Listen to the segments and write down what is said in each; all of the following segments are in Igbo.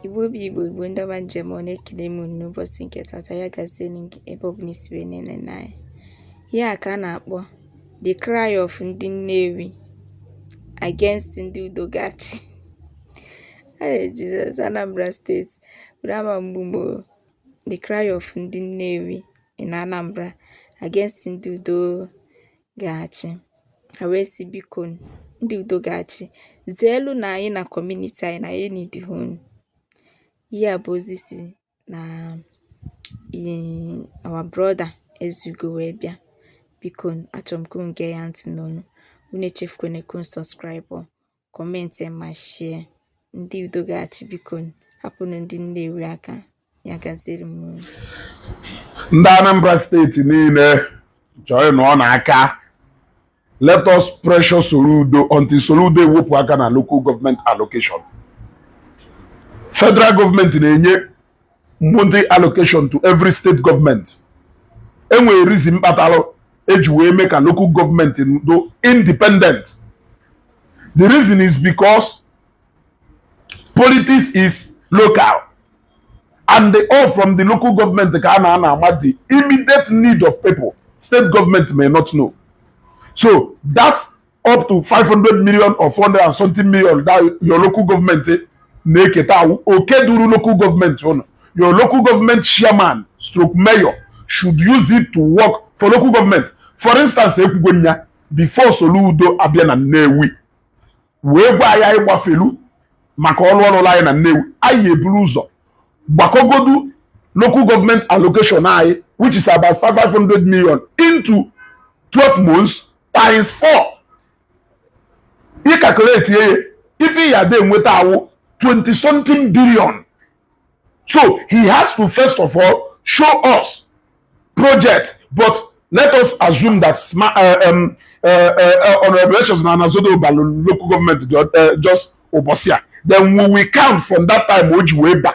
Igbo bụ Igbo Igbo ndị ọma m ji eme ọnụ ekele m unu n'ụbọchị nke tata ya gaziere gị ebe ọ bụla i si wee na-enene anyị ihe a ka a na-akpọ the cry of ndị Nnewi against ndị udo ga-achị Ee Jizọs, Anambra Steeti bụrụ ama mgbu ugboro The Cry of Ndị Nnewi in Anambra against ndị udo ga-achị. Ha wee sị, Biko, ndị udo ga-achị, zeelunụ anyị na community anyị na anyị eneedihọ unu. Ihe a bụ ozi si na our brother Ezeugo wee bịa. Biko, achọrọ m ka unu gee ya ntị n'ọnụ. Unu echefukwana ka unu subscribe. comment ma share ndị udo ga-achị biko hapụnụ ndị Nnewi aka ya gaziere unu ndị Anambra steeti niile joinụọnụ aka let us pressure Soludo until Soludo ewepụ aka na local government allocation federal government na-enye money allocation to every state government enwere reason kpatara eji wee mee ka local government do independent the reason is because politics is local and they all from the local government ka a na ana ama the immediate need of people state government may not know so that up to 500 million or 400 and something million that your local government eh, na-eketa awụ oke duru local government unu your local government chairman stroke mayor should use it to work for local government for instance ekwugo m ya before Soludo abịa na Nnewi wee gwa anyị ihe gbasalụ maka ọrụ ọ rụlụ anyị na Nnewi anyị eburu ụzọ gbakọgodu local government allocation anyị which is about 500 million into 12 months times four ị calculate ya ife ya dị enweta awụ 20 something billion so he has to first of all show us project but let us assume that smart, uh, um, uh, uh, uh, honorable Echezona Anazodo balu local government uh, just ụbọsị a then we will count from that time o ji wee ba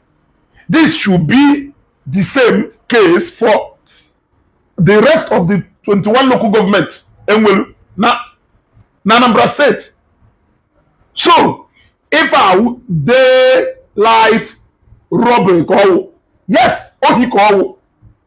This should be the same case for the rest of the 21 local government enwelu na na Anambra State. So, if I daylight robbery ka ọwụ, yes, ohi ka ọwụ.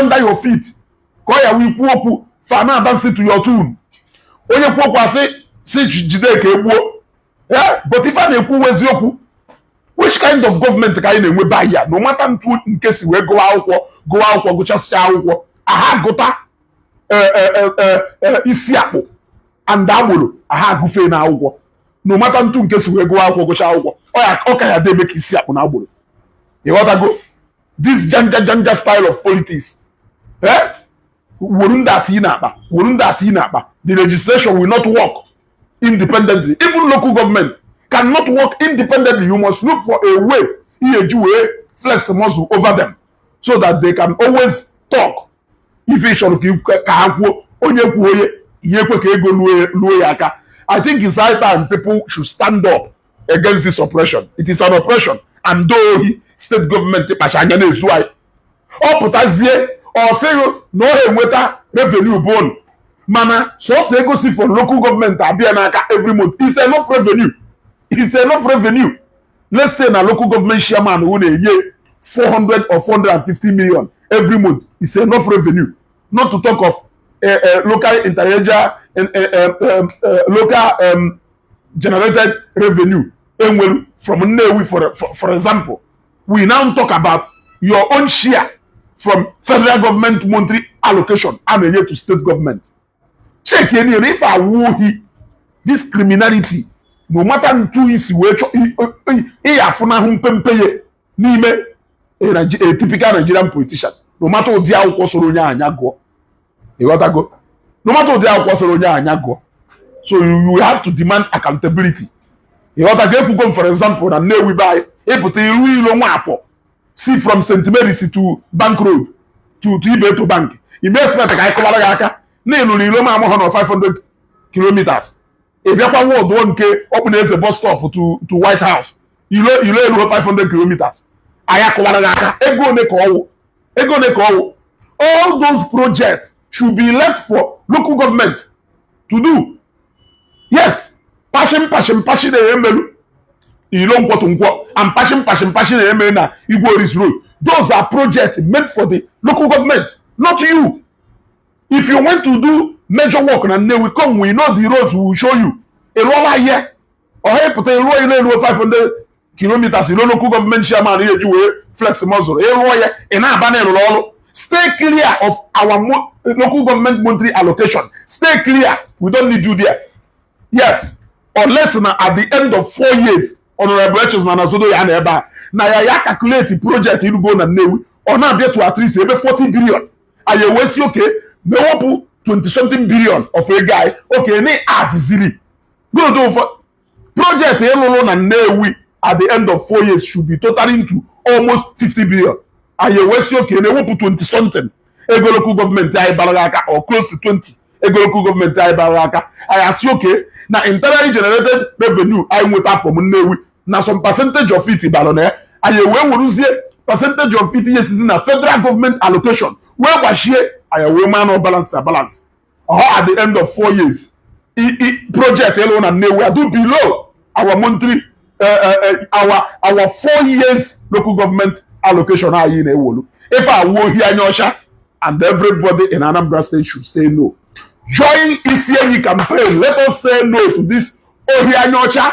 under your feet ka ọ ya-awụ ị kwuo okwu fa ana-adance to your tune onye kwuo okwu a sị sị jide ka e gbuo ee but ife a na-ekwu wụ eziokwu which kind of government ka anyị na-enwe ebe a no matter etu nke si wee gụwa akwụkwọ gụwa akwụkwọ gụchasịa akwụkwọ aha gụta e, e, e, isi akpụ and agboro aha agụfee na akwụkwọ no matter etu nke si wee gụwa akwụkwọ gụcha akwụkwọ ọ ka ya-adị eme ka isi akpụ na agboro ị ghọtago this janja janja style of politics eh wuru ndị ati na-akpa wuru ndị ati na-akpa the legislation will not work independently even local government cannot work independently you must look for a way ị ya-eji wee flex muscle over them so that they can always talk ife ị chọrọ ka ha kwuo onye kwuo onye ihe ekwe ka ego luo ya aka i think it's high time people should stand up against this oppression it is an oppression and ohi state government kpacha anya na-ezu anyị ọ pụtazie ọ sị ghị na ọ enweta revenue bon mana sọsọ ego si for local government abịa n'aka every month is enough revenue is enough revenue let's say na local government chairman who na-enye 400 or 450 million every month is enough revenue not to talk of uh, uh, local inter-regional uh, uh, uh, local um, generated revenue enwere from Nnewi for, for, for example we now talk about your own share from federal government monthly allocation a na-enye to state government check any if awụghị this criminality no matter ntu isi wee chọ ịya afụnahụ mpempe ya n'ime a typical Nigerian politician no matter ụdị akwụkwọ sọrọ onye anya gụọ ị ghọtago no matter ụdị akwụkwọ sọrọ onye anya gụọ so you have to demand accountability ị ghọtago ekwugo m for example na Nnewi be anyị ị pụta ị rụọ ilo nwa afụ si from St Mary's to Bank Road to to Ibeto Bank ị na-expect ka anyị kụwara gị aka na ị lụrụ ilo ma amụghọ na 500 kilometers ị bịakwa nwa ọdụọ nke Ọkpụnọeze bus stop to to White House ilo ilo eruhọ 500 kilometers anyị akụwara gị aka ego one ka ọ wụ ego one ka ọ wụ all those projects should be left for local government to do yes patching patching patching na-emelu ilo Nkwọ to Nkwọ and patching patching patching na-eme na Igwe Orizu Road those are projects meant for the local government not you if you want to do major work na Nnewi come we know the roads we will show you ị rụọla ihe ọha ị pụta ị rụọ ilo eruhọ 500 kilometers ilo local government chairman ya-eji wee flex muscle ị rụọ ya ị na-aba na ị rụrụ ọrụ stay clear of our mo local government monthly allocation stay clear we don't need you there yes unless na at the end of four years honorable Echezona Anazodo ya-anọ ebe a na ya ya calculate project ị rụgo na Nnewi ọ na-abịa to at least ebe 40 billion anyị ewee sị okay na ewepụ 20 something billion of ego anyị okay na adịziri good ụfọ project ị lụrụ na Nnewi at the end of four years should be totaling to almost 50 billion anyị ewee sị okay na ewepụ 20 something ego local government anyị bara gị aka or close to 20 ego local government anyị bara gị aka anyị asị okay na internally generated revenue anyị nweta from Nnewi na some percentage of it bara na ya anyị wee weruzie percentage of it ihe sizi na federal government allocation wee gbachie anyị wee maa na balance na balance ọ at the end of four years project ị lụ na Nnewi adị below our monthly eh, eh, eh, our our four years local government allocation anyị na-ewolu ife a wụ ohi anya ọcha and everybody in Anambra State should say no join Isienyi campaign let us say no to this ohi anya ọcha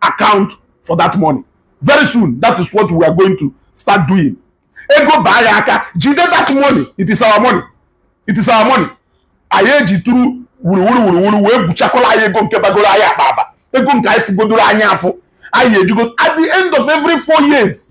account for that money very soon that is what we are going to start doing ego baa gị aka jide that money it is our money it is our money anyị eji tụrụ wuruwuru wuruwuru wee gwuchakọla anyị ego nke bagoro anyị akpa aba ego nke anyị fụgodoro anya afụ anyị ejugo at the end of every four years